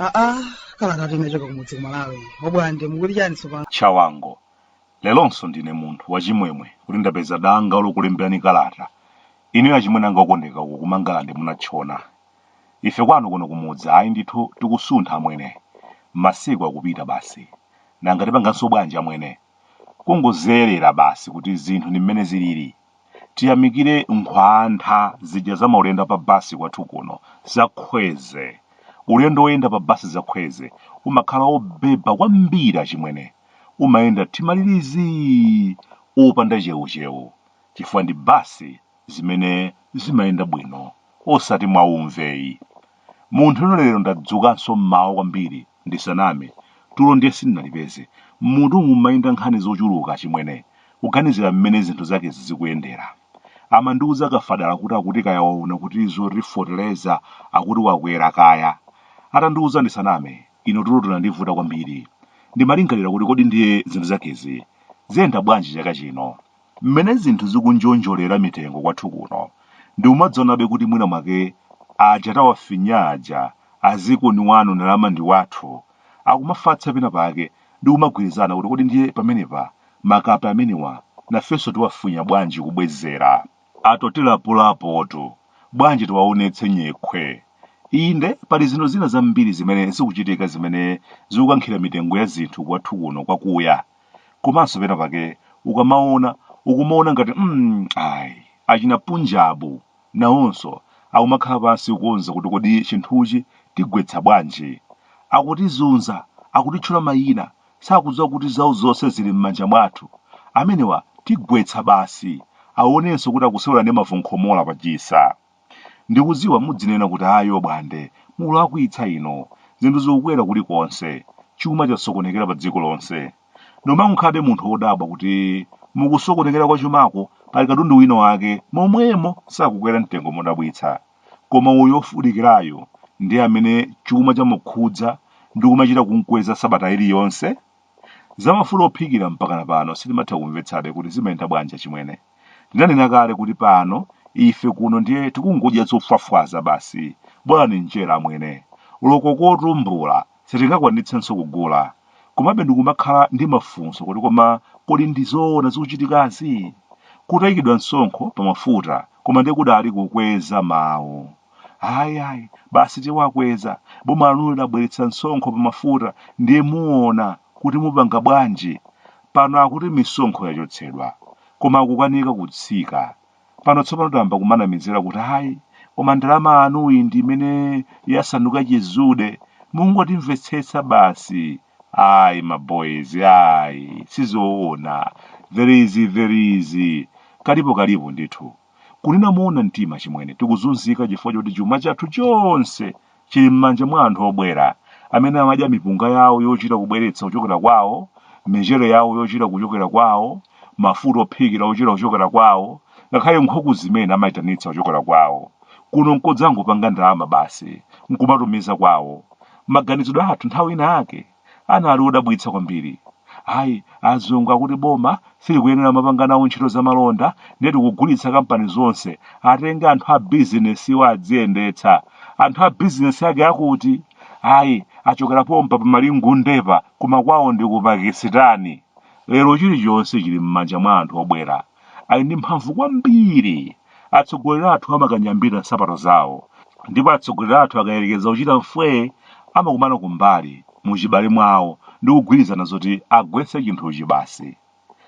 aa kalata inachoka kumudzi kumalawi obwande mukuti chani tsopano chawango leronso ndine munthu wachimwemwe kuti ndapeza danga lokulemberani kalata inuyo achimwene anga okondeka uko kumangalande munatchona Ife kwanu kuno kumudzi ayi ndithu tikusuntha amwene. Masiku akupita basi. Nanga tipanganso bwanji amwene? Kungozerera basi kuti zinthu ndi mmene zilili. Tiyamikire nkhwantha zija za maulendo a pa basi kwathu kuno za Kwezy. Ulendo woyenda pa basi za Kwezy umakhala wobheba kwambiri achimwene. Umayenda thimalilizi! Opanda chewuchewu. Chifukwa ndi basi zimene zimayenda bwino osati mwa umve yi. Munthune lero ndadzukanso m'mawa kwambiri ndisaname, tulo ndiye sindinalipeze. M'mutumu m'mayenda nkhani zochuluka achimwene, kuganizira mmene zinthu zakezi zikuyendera. Amandiuza Kafadala kuti akuti kaya waona kuti zoti foteleza akuti wakwera kaya. Atandiuza ndisaname, ine tulo tunandivuta kwambiri. Ndimalingalira kuti kodi ndiye zinthu zakezi ziyenda bwanji chaka chino? Mmene zinthu zikunjonjolera mitengo kwathu kuno, ndikumadzionabe kuti mwina mwake aja tawafinya aja, a dziko ndi wanu ndalama ndi wathu, akumafatsa pena pake ndi kumagwirizana kuti kodi ndiye pamenepa makape amenewa nafenso tiwafinya bwanji kubwezera? Atotilapulapotu, bwanji tiwaonetse nyekhwe. Inde, pali zinthu zina zambiri zimene zikuchitika zimene zikukankhira mitengo ya zinthu kwathu kuno kwakuya. komanso pena pake ukamaona ukumaona ngati mm, ayi achina punjabu nawonso akumakhala pansi kukonza kuti kodi chinthuchi tigwetsa bwanji akutizunza akutitchula mayina sakudziwa kuti zawo zonse zili m'manja mwathu amenewa tigwetsa basi awonenso kuti akusewera ndi mavunkhomola pachisa Ndikudziwa mudzinena kuti ayi obwande mukulakwitsa inu. Zinthu zikukwera kuli konse. Chuma chasokonekera pa dziko lonse. Koma nkukhabe munthu odabwa kuti mukusokonekera kwa chumako pali katundu wina wake momwemo sakukwera mtengo modabwitsa. Koma uyu ofunikirayu ndiye amene chuma chamukhudza ndikumachita kumkweza sabata ili yonse? Za mafuta ophikira mpakana pano sitimatha kumvetsabe kuti zimayenda bwanji achimwene. Ndinanena kale kuti pano ife kuno ndiye tikungodya zofwafwaza basi. Bolani njere amwene. Oloko kotumbula sitingakwanitsenso kugula. Komabe ndikumakhala ndi mafunso kuti koma kodi ndi zoona zikuchitikazi? Kutaikidwa msonkho pa mafuta koma ndiye kudali kukweza mawu. ayi ayi basi tiwakweza boma lanuli labweretsa msonkho pa mafuta ndiye muona kuti mupanga bwanji pano akuti misonkho yachotsedwa koma kukanika kutsika pano tsopano tayamba kumanamizira kuti ayi koma ndalama yanuyi ndi imene yasanduka chizude mungotimvetsetsa basi ayi maboys ayi sizoona there is there is kalipo kalipo ndithu Kunena moona mtima achimwene, tikuzunzika chifukwa choti chuma chathu chonse chili m'manja mwa anthu obwera, amene amadya mipunga yawo yochita kubweretsa kuchokera kwawo, michere yawo yochita kuchokera kwawo, mafuta ophikira ochita kuchokera kwawo, ngakhale nkhuku zimene amaitanitsa kuchokera kwawo. Kuno n'kodzangopanga ndalama basi n'kumatumiza kwawo. Maganizidwe athu nthawi inayake. anali odabwitsa kwambiri. Ayi, azungu akuti boma silikuyenera mapanga nawo ntchito zamalonda ndiye tikugulitsa kampani zonse, atenge anthu a bizinesiwa adziyendetsa. Anthu a bizinesi ake a kuti? Ayi, achokera pompa pa Malingundepa koma kwawo ndi ku Pakisitani. Lero chilichonse chili m'manja mwa anthu obwera. ali ndi mphamvu kwambiri. Atsogoleri athu amakanyambita nsapato zawo, ndipo atsogoleri athu akayerekeza kuchita mfwee, amakumana kumbali, mu chibale mwawo, ndi kugwirizana zoti agwetse chinthuchi basi.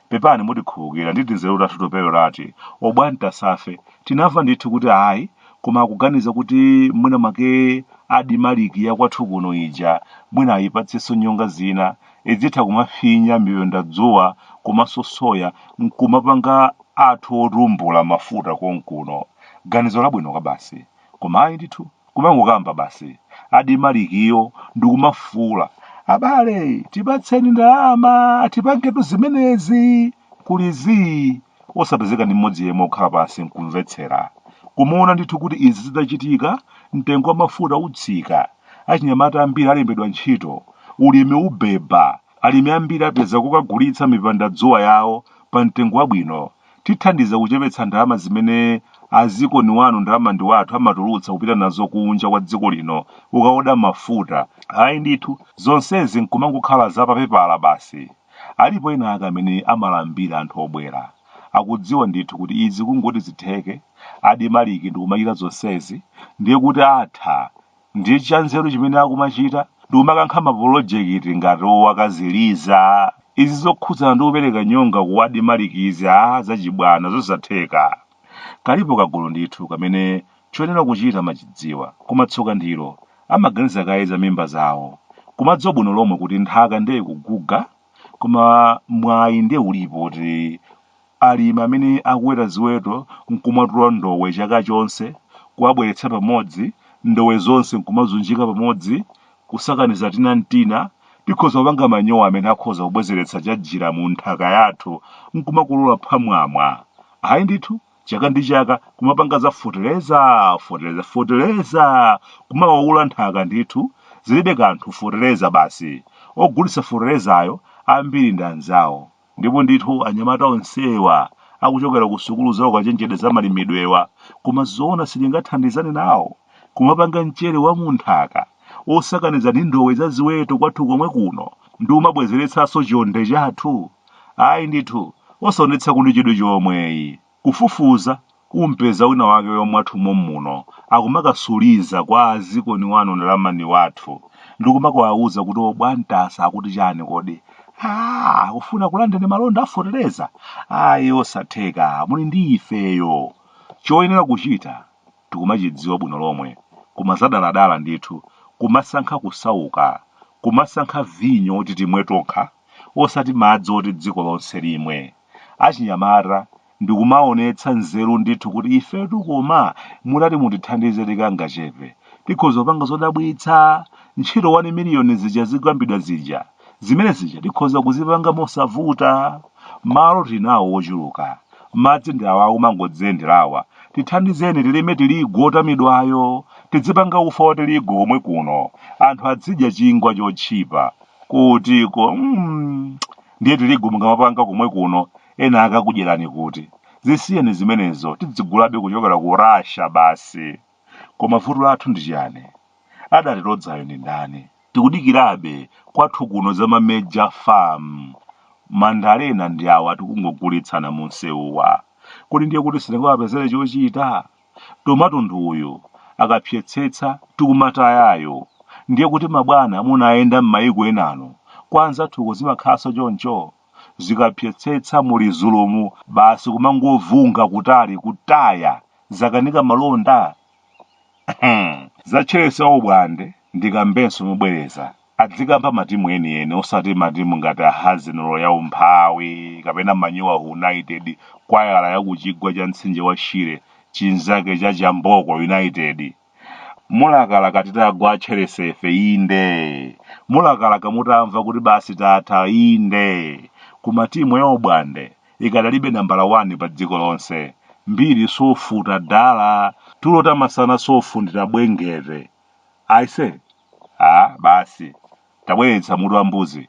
Pepani mutikhululukira ndi tinzeru tathu toperewerati, obwantasafe, tinamva ndithu kuti ayi, koma akuganiza kuti mwina mwake ADMARC ya kwathu kuno ija mwina ayipatsenso nyonga zina, idzitha kumafinya mipendadzuwa komanso soya nkumapanga athu otumbula mafuta konkuno ganizo labwino kwabasi koma ayi ndithu kumangokamba basi ADMARC-yo ndikumafuula abale tipatseni ndalama tipangetu zimenezi kuli zii, osapezeka ndi mmodzi yemwe okhala pansi nkumvetsera. Kumaona ndithu kuti izi zitachitika, mtengo wa mafuta utsika, achinyamata ambiri alembedwa ntchito, ulimi ubeba, alimi ambiri apeza kokagulitsa mipendadzuwa yawo pa mtengo wabwino, tithandiza kuchepetsa ndalama zimene a dziko ni wanu ndalama ndi wathu amatulutsa kupita nazo kunja kwa dziko lino kukaoda mafuta. Ayi ndithu, zonsezi nkumangokhala za papepala basi. Alipo ena ake amene amalambira anthu obwera. Akudziwa ndithu kuti izi kungoti zitheke, ADMARC ndikumachita zonsezi, ndiye kuti atha. Ndiye chanzeru chimene akumachita ndikumakankha mapolojekiti ngati owakaziliza. Izi zokhudzana ndi kupereka nyonga ku ADMARC izi aah zachibwana zosatheka. Kalipo kagulu ndithu kamene choyenera kuchita amachidziwa, koma tsoka ndilo, amaganiza kaye za mimba zawo, kumadziwa bwino lomwe kuti nthaka nde ikuguga, koma mwayi nde ulipo woti alimi amene akuweta ziweto nkumatula ndowe chaka chonse, kuwabweretsa pamodzi, ndowe zonse nkumazunjika pamodzi, kusakaniza tina n'tina, tikhoza kupanga manyowa amene akhoza kubwezeretsa chajira mu nthaka yathu n'kumakolola phwamwamwa. Ayi ndithu, chaka ndi chaka kumapanga za fotereza, fotereza, fotereza, kumawaula nthaka ndithu, zilibe kanthu fotereza basi. Ogulitsa foterezayo ambiri ndi anzawo. Ndipo ndithu anyamata onsewa akuchokera ku sukulu za ukachenjede za malimidwewa, koma zoona sitingathandizane nawo? Kumapanga mchere wa mu nthaka osakaniza ndi ndowe za ziweto kwathu komwe kuno ndikumabwezeretsanso chonde chathu? Ayi ndithu, osaonetsako ndi chidwi chomweyi. Kufufuza umpeza wina wake wamwathu mommuno akumakasuliza kwa azikoni wanu ndi lamani wathu ndikumakawauza kuti obwantasa akuti chani kodi? Aaa akufuna akulandeni malonda a fotereza? Ayi osatheka muli ndi ifeyo. Choyenera kuchita tikumachidziwa bwino lomwe, koma zadaladala ndithu, kumasankha kusauka, kumasankha vinyo oti timwe tokha osati madzi oti dziko lonse limwe. Achinyamata, ndikumaonetsa nzeru ndithu kuti ifetu koma mutati mutithandize tikangachepe, tikhoza kupanga zodabwitsa, ntchito 1 miliyoni zija zikukambidwa zija. zimene zija tikhoza kuzipanga mosavuta malo tinawo wochuluka madzi ndi awa akumangodziyenderawa tithandizeni tilime tiligu otamidwayo tidzipanga ufa wa tiligu komwe kuno anthu adzidya chingwa chotchipa kutiko mm, ndiye tiligu mukamapanga komwe kuno ena akakudyerani kuti zisiyeni zimenezo tidzigulabe kuchokera ku russia basi Koma vuto lathu ndi chiyani? Adatilodzayo ndi ndani? Tikudikirabe kwathu kuno za ma mega farm. Mandalena ndi awa tikungogulitsana mumsewuwa. Kodi ndiye kuti sitingawapezere chochita? Tomato ndi uyu akapsetsetsa tikumatayayo. Ndiye kuti mabwana munayenda m'mayiko enanu kwa anzathuko zimakhalanso choncho? zikapsetsetsa mu lizulumu basi kumangovunga kutali kutaya zakanika malonda za chelsea obwande ndikambenso mobwereza adzikamba matimu enieni osati matimu ngati arsenal ya umphawi kapena manyowa united kwayala ya kuchigwa cha mtsinje wa shire chinzake cha chamboko united Mulakalaka titagwa a Chelsea ife, inde. Mulakalaka mutamva kuti basi tatha, inde. Koma timu ya Ubwande ikadalibe nambala 1 pa dziko lonse. Mbiri safuta dala. Tulo ta masana safundira Bwengete. Aise, ah basi, tabweretsa mutu wa mbuzi.